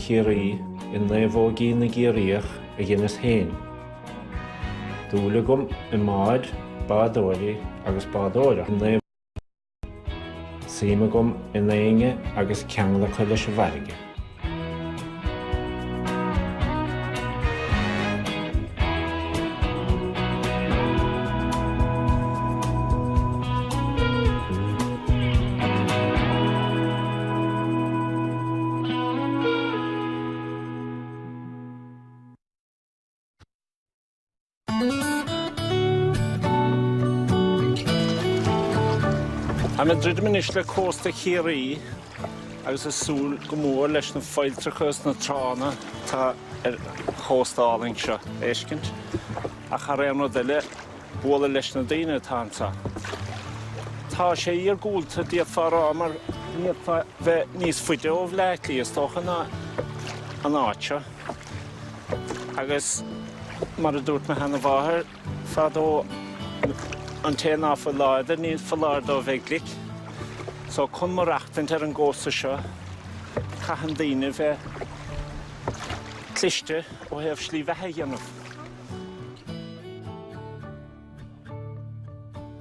Chiarraí i naomhóigí na gCiarraíoch a dheineas é. Dúil agam i mbáid, bádóirí agus bádóireacht i naomhóigí. Suim agam i ndaoine agus ceangal acu leis an bhfarraige. Táim ag druidim anois le cósta Chiarraí agus ag súil go mór leis na failltreacha is na tránna atá ar an gcósta álainn seo a fheiscint ach thar aon rud eile bualadh leis na daoine atá anseo. Tá sé iargúlta, d'fhéadfá a rá, mar ní fhéadfá bheith níos faide ó Bhleá Cliath, is dócha, ná an áit seo. Agus mar a dúirt mo sheanmháthair fadó, an té ná fuil láidir, ní foláir dó bheith glic. So, chun maireachtaint ar an gcósta seo, caitheann daoine bheith cliste ó thaobh slí bheatha a dhéanamh.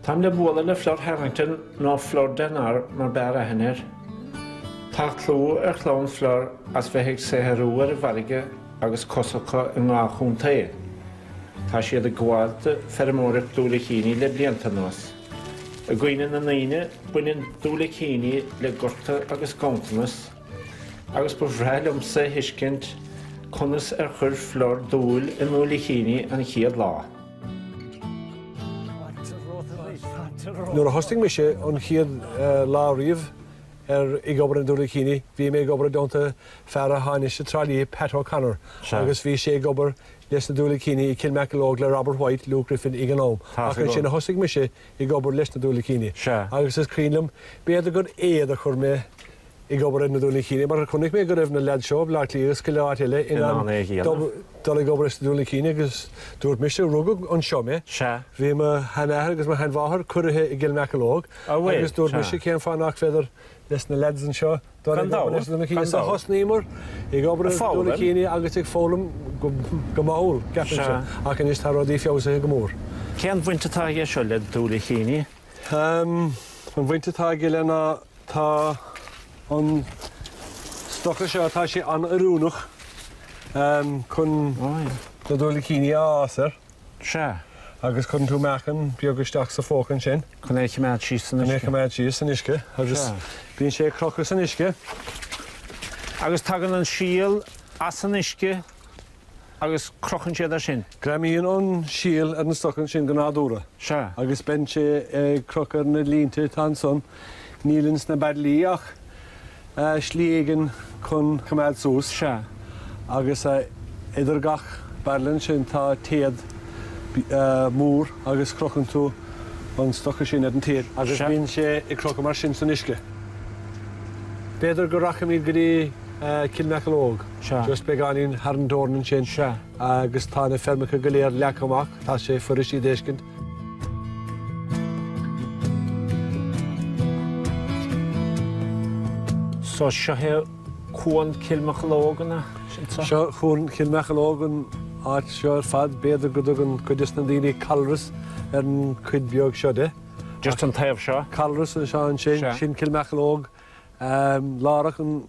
Táim le bualadh le Flor Harrington, nó Flor Denar mar b'fhearr aithne air. Tá clú ar chlann Flor as bheith ag saothrú ar an bhfarraige agus cos acu i ngach contae. Tá siad ag gabháil do feirmeoireacht diúilicíní le blianta anuas. I gcuimhne na ndaoine, baineann diúilicíní le gorta agus ganntanas. agus ba bhreá liomsa a thuiscint conas ar chuir Flor dúil i ndiúilicíní an chéad lá. Nuair a thosaigh mise an chéad lá riamh ag obair ar na diúilicíní bhí mé ag obair i dteannta fear a tháinig as Trá Lí, Pat O'Connor, agus bhí sé ag obair leis na diúilicíní i gCill Mocheallóg le Robert White, Luke Griffin ag an am, ach is ansin a thosaigh mise ag obair leis na diúilicíní, agus is cuimhin liom, b'fhéidir gur éad a chuir mé ag obair ar na diúilicíní mar chonaic mé go raibh na leaids seo i mBleá Cliath agus go leor áit eile in ann é a dhéanamh, dul ag obair ar na diúilicíní agus dúirt mise, rugadh anseo mé, bhí mo sheanathair agus mo sheanmháthair curtha i gCill Mocheallóg agus dúirt mise cén fáth nach féidir leis na leaids anseo dul ag obair ar na diúilicíní. So thosnaíomar ag obair ar na diúilicíní agus ag foghlaim go mall, ceapaimse, ach anois tá rudaí feabhsaithe go mór. Cén bhaint atá aige seo le diúilicíní? An bhaint atá aige le ná. Tá an stoca seo, tá sé an-oiriúnach chun na diúilicíní a fhás air. Sea. Agus cuireann tú meáchan beag isteach sa phóca ansin. Chun é a choimeád síos san uisce. Chun é a choimeád síos san uisce. Sea. Agus bíonn sé ar crochadh san uisce. Agus tagann an síol as an uisce. agus crochann siad air sin. Greamaíonn an síol ar na stocaí sin go nádúrtha. Sea. Agus bíonn sé ar crochadh ar na línte atá ansan. Níl ins na beairillí ach slí éigin chun coimeád suas. Sea. Agus idir gach bairille ansin tá téad mór agus crochann tú an stoca sin ar an téad. Sea. Agus bíonn sé ar crochadh mar sin san uisce. B'fhéidir go rachaimid go dtí Cill Mocheallóg. Sea. Just beagáinín thar an teorainn ansin. Sea. Agus tá na feirmeacha go léir leagtha amach. Tá sé fuirist iad a fheiscint. So seo é Cuan Chill Mocheallóg an ea? Sin so? Seo Cuan Chill Mocheallóg an áit seo ar fad. B'fhéidir go dtugann cuid des na daoine Calras ar an chuid beag seo de. Just an taobh seo? Calras an seo ansin. Sin Cill Mocheallóg. Lárach an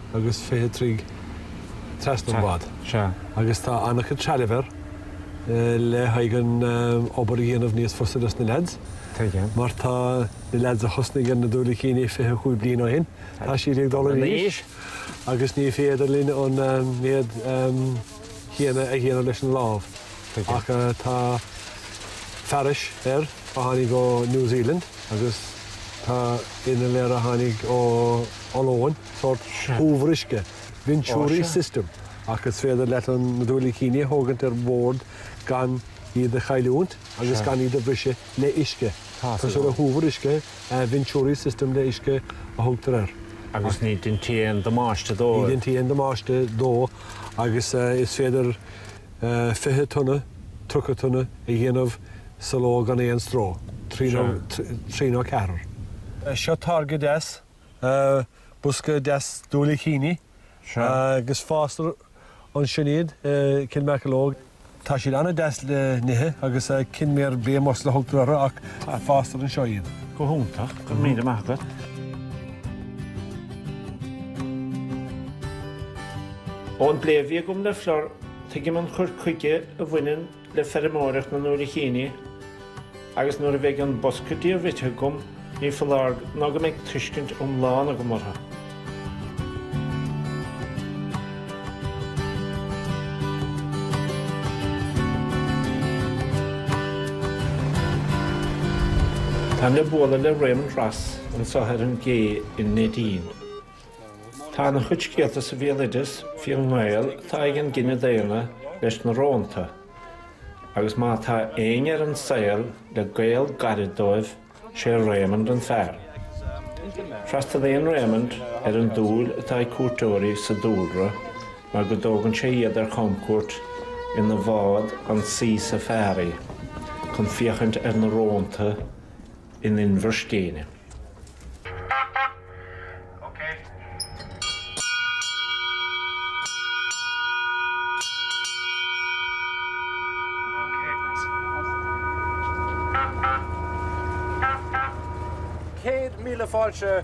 agus fiche troigh trasna an bhád agus tá an-chuid trealaimh air le haghaidh an obair a dhéanamh níos fusa dos na leaids mar tá na leaids a thosnaigh ar na diúilicíní fiche cúig bliain ó shin, tá siad ag dul in aois agus ní féidir linn an méad chéanna a dhéanamh leis an lámh ach tá fearais air a tháinig ó New Zealand agus tá innill air a tháinig ó Ollainn. sórt cumhacht uisce, venturi system, ach is féidir leat na diúilicíní a thógaint ar bhord gan iad a chailliúint agus gan iad a bhriseadh le uisce. Tá sórt cumhacht uisce, venturi system le uisce a thugtar air. Agus ní deintear aon damáiste dó. Ní deintear aon damáiste dó agus is féidir fiche tonna, tríocha tonna a dhéanamh sa ló gan aon stró. Trí nó ceathrar. Seo táirge deas. bosca deas diúilicíní agus fástar anseo iad i gCill Mocheallóg. Tá siad an-deas le n-ithe agus Kenmare Bay Mussel a thugtar orthu ach fástar anseo iad. Go hiontach, go raibh míle maith agat. Ón bplé a bhí agam le Flor, tuigim an cur chuige a bhaineann le feirmeoireacht na ndúilicíní agus nuair a bheidh an bosca dí rite agam ní foláir nó go mbeidh tuiscint iomlán agam orthu. Táim le bualadh le Raymond Ross anseo ar an gcé i Neidín. Tá an-chuid scéalta sa bhéaloideas fén ngaol atá ag an gcine daonna leis na rónta, agus má tá éinne ar an saol le gaol gairid dóibh, sé Raymond an fear. Freastalaíonn Raymond ar an dúil atá ag cuairteoirí sa dúlra mar go dtógann sé iad ar chamcuairt ina bhád an Seafari chun féachaint ar na rónta, in Inbhir Scéine. Céad míle fáilte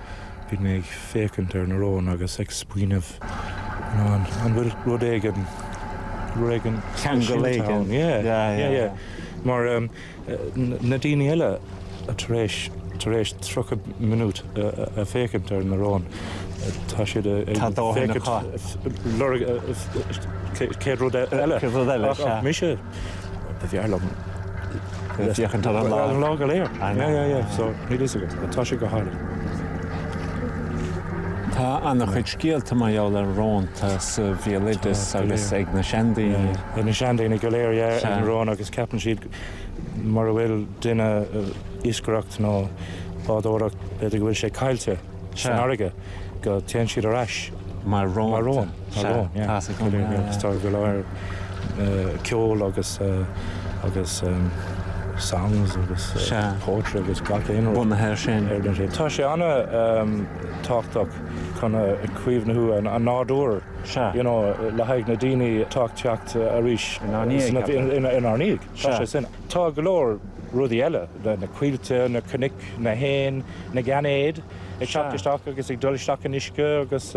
Bhí mé ag féachaint ar na róin agus ag smaoineamh an bhfuil rud éigin, rud éigin, ceangal éigin, yeah, mar na daoine eile tar éis, tar éis tríocha minút ag féachaint ar na róin tá siad ag féachaint lorg céad rud eile ach mise. B'fhearr liom ag féachaint ar an lá. Ar an lá go léir. I know. Yeah, yeah, so níl a fhios agam. Tá sé go hálainn. Tá an-chuid scéalta mar gheall ar rónta sa bhéaloideas agus ag na seandaoine. Ag na seandaoine go léir, yeah, an rón agus ceapann siad má bhfuil duine ag iascaireacht nó bádóireacht b'fhéidir go bhfuil sé caillte. san fharraige go dtéann siad ar ais mar rón. mar rón. mar rón, yeah. Tá scéal go leor. agus tá go leor ceol agus agus songs agus Sea. poetry agus gach aon rud. bunaithe air sin. ar na sin. Tá sé ana tábhachtach chun caomhnú an an nádúir Sea. you know, le haghaidh na daoine atá ag teacht arís. Inár ndiaidh, ceapaim. inár ndiaidh. Tá sé sin. Tá go leor rudaí eile, na coillte, na cnoic, na héin, na gainéid ag teacht isteach agus ag dul isteach san uisce agus,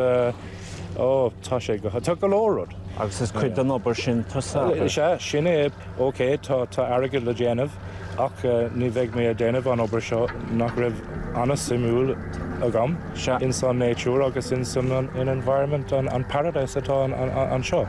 ó, tá sé go, tá go leor rud. Agus is cuid den obair sin tusa. Is ea, sin é, ok, tá airgead le déanamh ach ní bheidh mé ag déanamh an obair seo nach raibh an-suimiúil agam ins an nature agus ins an environment, an paradise atá anseo.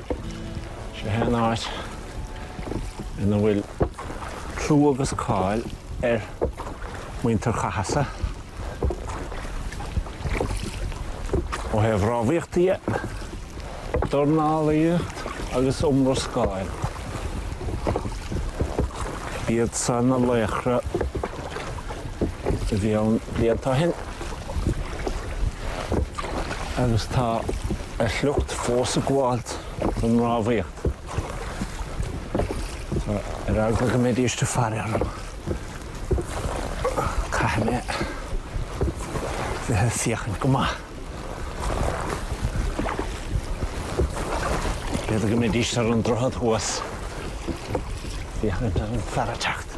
Seo é an áit ina bhfuil clú agus cáil ar mhuintir Chathasaigh ó thaobh rámhaíochta dhe, dornálaíocht agus iomrascáil. B'iad san na laochra a bhí ann blianta ó shin. agus tá a shliocht fós ag gabháilt don rámhaíocht. Ar eagla go mbeidís de faire orm, caithfidh mé bheith ag féachaint go maith. B'fhéidir go mbeidís ar an droichead thuas, féachaint ar an fear ag teacht.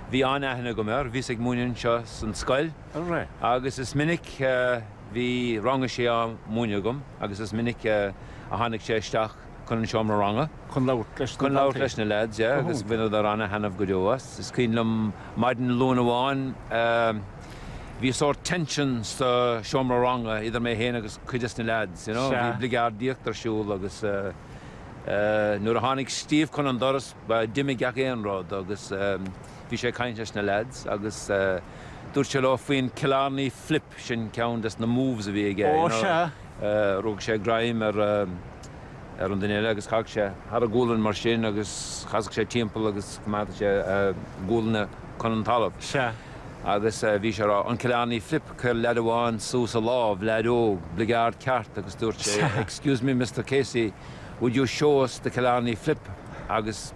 Bhí an-aithne agam air, bhíos ag múineadh anseo san scoil agus is minic a bhí rang a sé á múineadh agam agus is minic a tháinig sé isteach chun an seomra ranga, chun labhairt leis na lads, yeah, agus bhaineadar an-thaitneamh go deo as. Is cuimhin liom maidin Luain amháin, bhí sórt tension sa seomra ranga idir mé féin agus cuid des na lads, you know, bhí bligeardaíocht ar siúl agus nuair a tháinig Steve chun an doras, Bhuel d'imigh gach aon rud agus bhí sé ag caint leis na lads agus dúirt sé leo faoin Killarney Flip, sin ceann des na moves a bhí aige you know, rug sé greim ar ar an duine eile agus chaith sé thar a ghualainn mar sin agus chasadh sé timpeall agus choimeád sé a ghualainn chun an talamh agus bhí sé ag rá an Killarney Flip, chuir lad amháin suas a lámh, leaid óg, bligeárd ceart agus dúirt sé excuse me Mister Casey, Would you show us the Killarney flip agus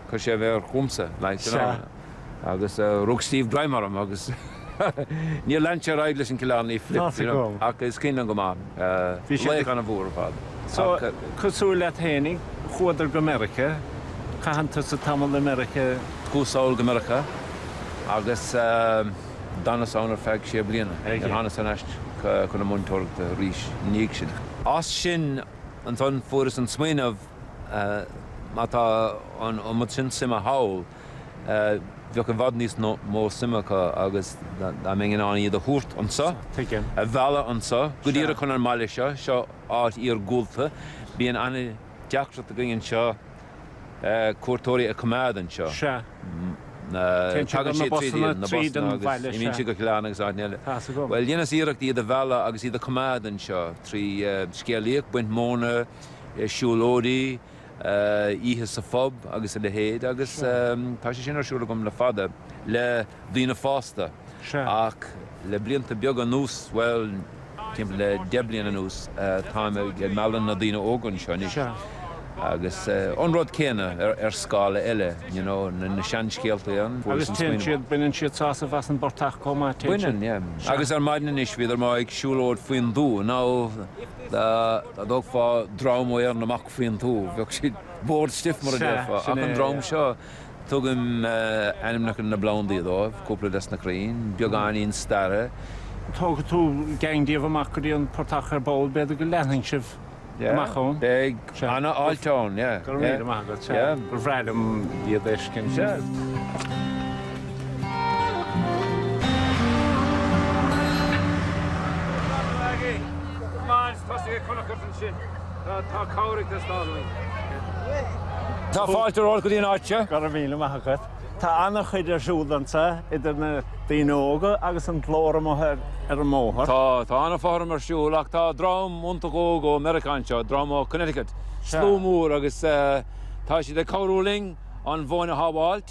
chuir sé an mhéar chugamsa like you know agus rug Steve greim orm agus níor lean sé ar aghaidh leis an Killarney flip you know ach is cuimhin liom go maith é, laoch ana mhór ar fad. So cosúil leat fhéinig chuadar go Meiriceá, caitheann tusa tamall i Meiriceá? Chuas sall go Meiriceá agus d'fhanas ann ar feadh sé bliana, níor thánas ar ais chun na múinteoireachta arís i ndiaidh sin. As sin Ansan fuaireas an smaoineamh, má tá an iomad sin suime thall, bheadh i bhfad níos mó suime acu agus dá mbeinn in ann iad a thabhairt anso, a mhealladh anso, go díreach chun an mbaile seo, seo áit iargúlta, bíonn an-deacracht againn anseo, cuairteoirí a coimeád anseo. Tagann siad tríd an mbaile seo, agus imíonn siad go Cill Airne agus áiteanna eile. Bhuel, dheineas iarracht iad a mhealladh agus iad a coimeád anseo trí scéalaíocht, baint móna, siúlóidí, oíche sa phub agus a leithéid agus tá sé sin ar siúl agam le fada le daoine fásta ach, Le blianta beaga anuas, bhuel, timpeall le deich bliana anuas, táim ag mealladh na daoine óga anseo anois agus an rud céanna ar scála eile, you know, na seanscéaltaí ann. Agus téann siad, baineann siad sásamh as an bportach chomh maith, téann siad? Baineann, yeah. Agus ar maidin anois, bhíodar amuigh ag siúlóid faoin dtuath. Now, dá dtógfá dream ó Ard Mhacha faoin tuath, bheadh siad bored stiff mar a déarfá ach an dream seo, Tugaim ainmneacha na bplandaí dóibh, cúpla desna crainn, beagáinín staire. Tógfaidh tú geaing díobh amach go dtí an portach ar ball b'fhéidir go leanfaidh sibh amach ann? Beidh an-fháilte ann, yeah. Go raibh míle maith agat, sea. Ba bhreá liom iad a fheiscint, sea. Maith an t-aghaidh! Maith an t-aghaidh! Tosaigh ag cur na cosa ansin. Tá cabhair ag teastáil uainn. Tá fáilte romhat go dtí an áit seo. Go raibh míle maith agat. Tá an-chuid ar siúl anseo idir na daoine óga agus an glór amuigh ar an mbóthar. Tá, tá an-fhothram ar siúl ach tá dream iontach óg ó Mheiriceá anseo, dream ó Connecticut, slua mór agus tá siad ag cabhrú linn an mhóin a shábháilt.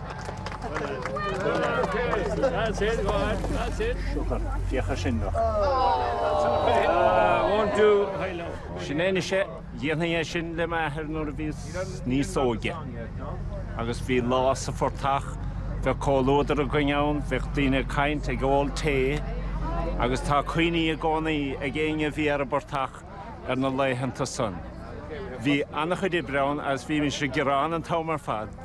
Sin é anois é. Dhéanfainn é sin le m'athair nuair a bhíos níos óige. Agus bhí lá sa phortach, bheadh comhluadar againn ann, bheadh daoine ag caint, ag ól tae, agus tá cuimhní i gcónaí ag éinne a bhí ar an bportach ar na laethanta san. Bhí an-chuid oibre ann agus bhímis ag gearán an t-am ar fad.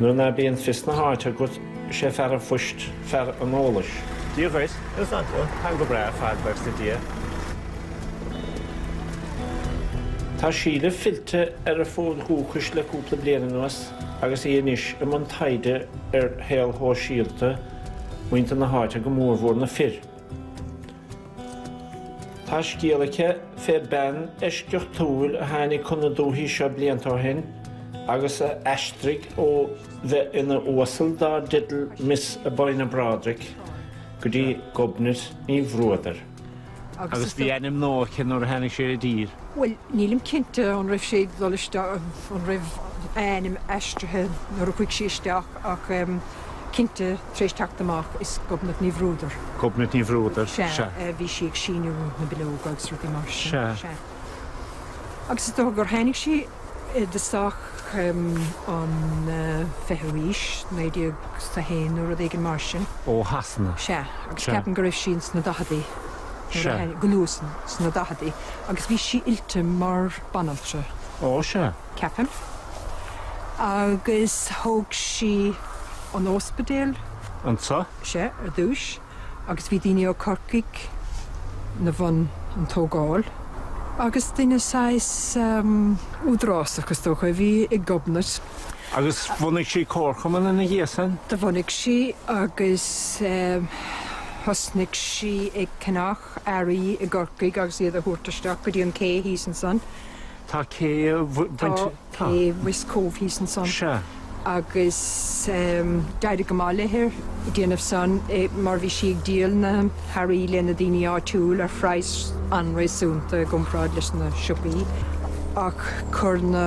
Nuair ná bíonn fios na háite agat, is é fear an phoist fear an eolais. Dia dhuit. Is maith thú. Táim go breá, a bhuí le Dia. Tá Síle fillte ar a fód dúchais le cúpla bliain anuas agus í anois i mbun taighde ar shaol shóisialta muintir na háite, go mórmhór na fir. Tá scéal aici fé bhean eisceachtúil a tháinig chun na dúthaí seo blianta ó shin agus a d'aistrigh ó bheith ina huasal dár teideal Miss Albinia Brodrick go dtí Gobnait Ní Bhruadair. Agus bhí ainm nua aici nuair a tháinig sí i dtír. Bhuel, nílim cinnte an raibh sí ag dul isteach, an raibh a hainm aistrithe nuair a chuaigh sí isteach ach. cinnte tar éis teacht amach, is Gobnait Ní Bhruadair. Gobnait Ní Bhruadair, sea. Sea, bhí sí ag síniú na bileoga agus rudaí mar sin. Sea. Sea. Agus is dócha gur tháinig sí i dtosach an fichiú haois, naoi déag 's a haon nó rud éigin mar sin. Ó Shasana. Sea. Agus Sea. ceapaim go raibh sí ins na daicheadaí nuair a Sea. tháinig, go luath sna daicheadaí. Agus bhí sí oilte mar bhanaltra. Ó, sea. ceapaim, agus thóg sí an óspidéal anseo, sea, ar dtúis, agus bhí daoine ó Corcaigh na bhun an tógáil, agus duine saghas údarásach, is dócha, a bhí i nGobnait. Agus bhunaigh sí comharchumann ina dhiaidh sin? Do bhunaigh sí, agus thosnaigh sí ag ceannach earraí i gCorcaigh agus iad a thabhairt isteach go dtí an cé thíos ansan, Tá cé tá cé West Cove thíos ansan Sea. agus em d'éirigh go maith léi ag déanamh san eh mar bhí sí ag díol na hearraí leis na daoine áitiúil ar phraghas an-réasúnta i gcomparáid leis na siopaí ach chuir na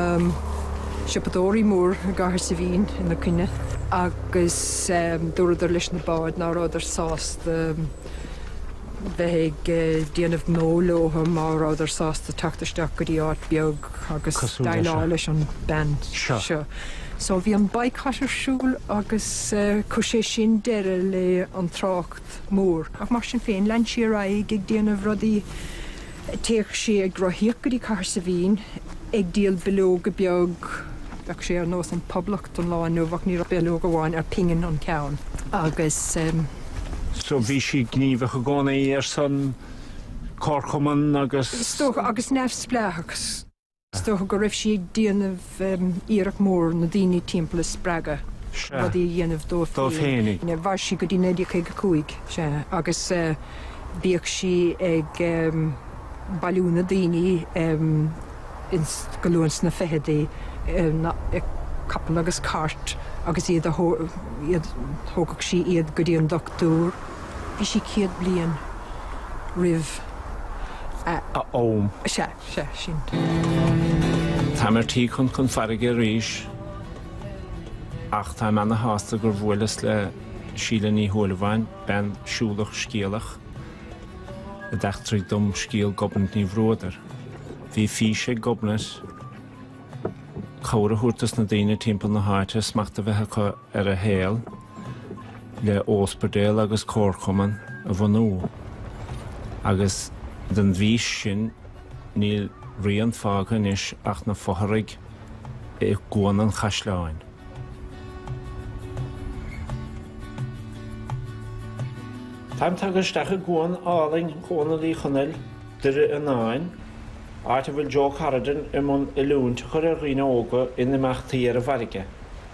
siopadóirí mór i gCathair Saibhín ina coinne agus em dúradar leis na báid ná rabhadar sásta bheith ag déanamh gnó leothu má rabhadar sásta teacht isteach go dtí áit bheag agus déileáil leis an bhean seo. So bhí an baghcat ar siúl agus chuir sé sin deireadh le an trácht mór. Ach mar sin féin, lean sí ar aghaidh ag déanamh rudaí Théadh sé ag rothaíocht go dtí Cathair Saibhín ag díol bileoga beag, bheadh sé ar nós An Phoblacht an lá inniu ach ní bileog amháin ar phingin an ceann agus. So bhí sí gníomhach i gcónaí ar son comharchumann agus. Is dócha, agus neamhspleáchas. Is dócha go raibh sí ag déanamh iarracht mór na daoine timpeall a spreagadh rudaí a dhéanamh dóibh féin. Mhair sí go dtí 1955 agus bhíodh sí ag bailiú na daoine go luath sna ficheadaí ag capall agus cairt agus iad a thógadh sí iad go dtí an dochtúir. Bhí sí céad bliain roimh a ham. Sea sin. Táim ar tí chun chun farraige arís ach táim ana-shásta gur bhuaileas le Síle Ní Shúilleabháin, bean siúlach scéalach, a d'eachtraigh dom scéal Ghobnait Ní Bhruadair. Bhí fís ag Gobnait cabhair a thabhairt dos na daoine timpeall na háite, smacht a bheith acu ar a saol le óspidéal agus comharchumann a bhunú agus den bhfís sin níl rian fágtha anois ach na fotharaigh i gCuan an Chaisleáin. Táim tagtha isteach i gcuan álainn chónaí Uí Chonaill, Doire Fhionáin, áit a bhfuil Joe Cardan i mbun oiliúint a chur ar dhaoine óga in imeachtaí ar an bhfarraige.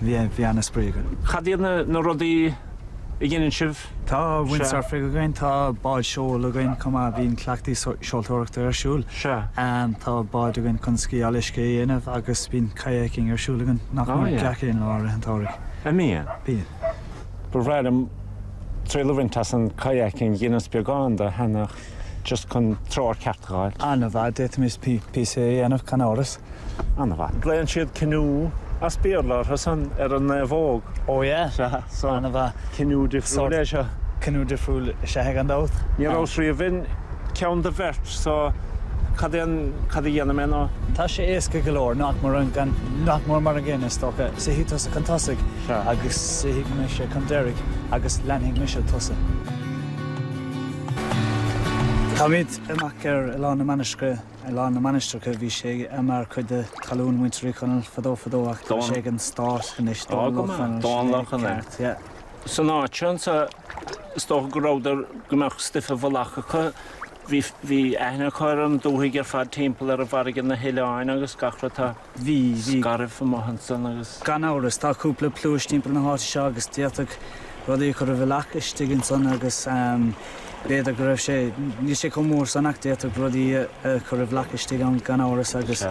bhí an-spraoi againn. Cad iad na rudaí a dheineann sibh? Tá windsurfing againn, tá báid seoil againn chomh maith, bíonn cleachtaí seoltóireachta ar siúl. Tá báid againn chun sciáil uisce a dhéanamh agus bíonn kayaking ar siúl againn nach mór gach aon lá i rith an tsamhraidh. An mbíonn? Bíonn. Ba bhreá liom triail a bhaint as an kayaking, dheineas beagán de cheana ach just chun treoir cheart a fháil. An-mhaith, d'fhéadfaimis píosa a dhéanamh, gan amhras. An-mhaith. Glaonn siad canoe as Béarla orthu san ar an naomhóg. Ó yeah? Sea. So. An-mhaith. Canoe difriúil é seo. Canoe difriúil is ea é gan dabht. Ní rabhas riamh in ceann do bheirt so cad é an, cad a dhéanfaidh mé nó? Tá sé éasca go leor, nach mór an, gan, nach mór mar an gcéanna is dócha. Suífidh tusa chun tosaigh. Sea. Agus suífidh mise chun deiridh agus leanfaidh mise tusa. Táimid amach ar Oileán na Mainistreach. Oileán na Mainistreacha, bhí sé mar chuid de talún muintir Uí Chonaill fadó fadó ach tá sé ag an Stát anois. Dónall Ó Conaill, sin é. Dónall Ó Conaill. Ceart, yeah. San áit seo anseo, is dócha go rabhadar, go mbeadh stuif i bhfolach acu. Bhí, bhí aithne acu ar an dúthaigh ar fad timpeall ar an bhfarraige, na hoileáin agus gach rud. Tá. Bhí, bhí. Scairbh amach ansan agus. Gan amhras, tá cúpla pluais timpeall na háite seo agus d'fhéadfadh rudaí a chur i bhfolach istigh ansan agus b'fhéidir go raibh sé, níl sé chomh mór san ach d'fhéadfadh rudaí a chur i bhfolach istigh ann gan amhras agus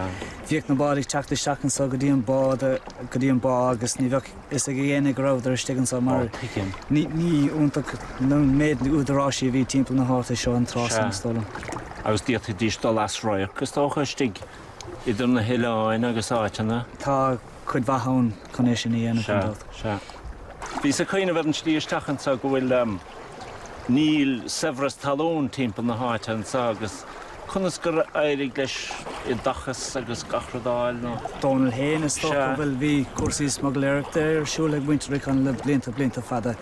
bhíodh na báid ag teacht isteach anso go dtí an bá, go dtí an bá agus ní bheadh a fhios ag éinne go rabhadar istigh anso mar ní, ní iontach an méid údaráisí a bhí timpeall na háite seo an tráth san is dóigh liom. Agus d'fhéadfaidís dul as radharc is dócha istigh idir na hoileáin agus áiteanna. Tá cuid mhaith ann chun é sin a dhéanamh, gan dabht. Sea. Sea. Bhíos ag cuimhneamh ar an tslí isteach anseo go bhfuil, níl saibhreas talún timpeall na háite anseo agus conas gur éirigh leis oideachas agus gach rud a fháil nó? Dónall féin, is dócha. Sea. Bhuel, bhí cúrsaí smugailéireachta ar siúl ag muintir Uí Chonaill le blianta, blianta fada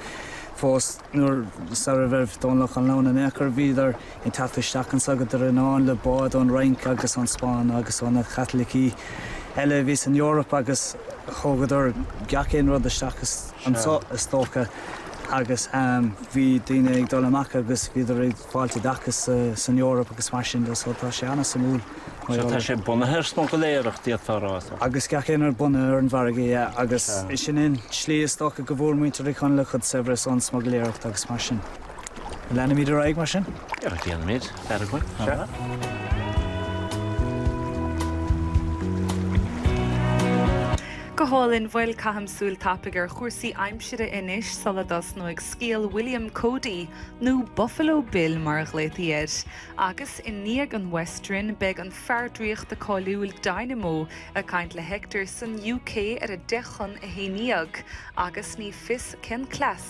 fós. Nuair, sar a raibh Dónall Ó Conaill ann in aon chor, bhíodar. Ag teacht isteach anso go Doire Fhíonáin le bád ón Fhrainc agus ón Spáinn agus ó na Caitlicigh eile a bhí san Eoraip agus thógadar gach aon rud isteach anso is dócha agus bhí daoine ag dul amach agus bhíodar ag fáil oideachais san Eoraip agus mar sin de so tá sé an-suimiúil. So tá sé bunaithe ar smugailéireacht d'fhéadfá a rá? Agus gach aon rud bunaithe ar an bhfarraige, yeah, agus sin é an tslí is dócha go bhfuair muintir Uí Chonaill a gcuid saibhreas ón smugailéireacht agus mar sin. Leanfaimid ar aghaidh mar sin? Ar, déanfaimid. Faire againn. Sea. Go hálainn, bhuel, caithimis súil thapaidh ar chúrsaí aimsire anois sula dtosnóidh scéal William Cody, nó Buffalo Bill mar a ghlaotaí air. Agus i ndiaidh an Western, beidh an fear draíochta cáiliúil Dynamo ag caint le Hector san UK ar a deich chun a haon déag, agus ní fios cén cleas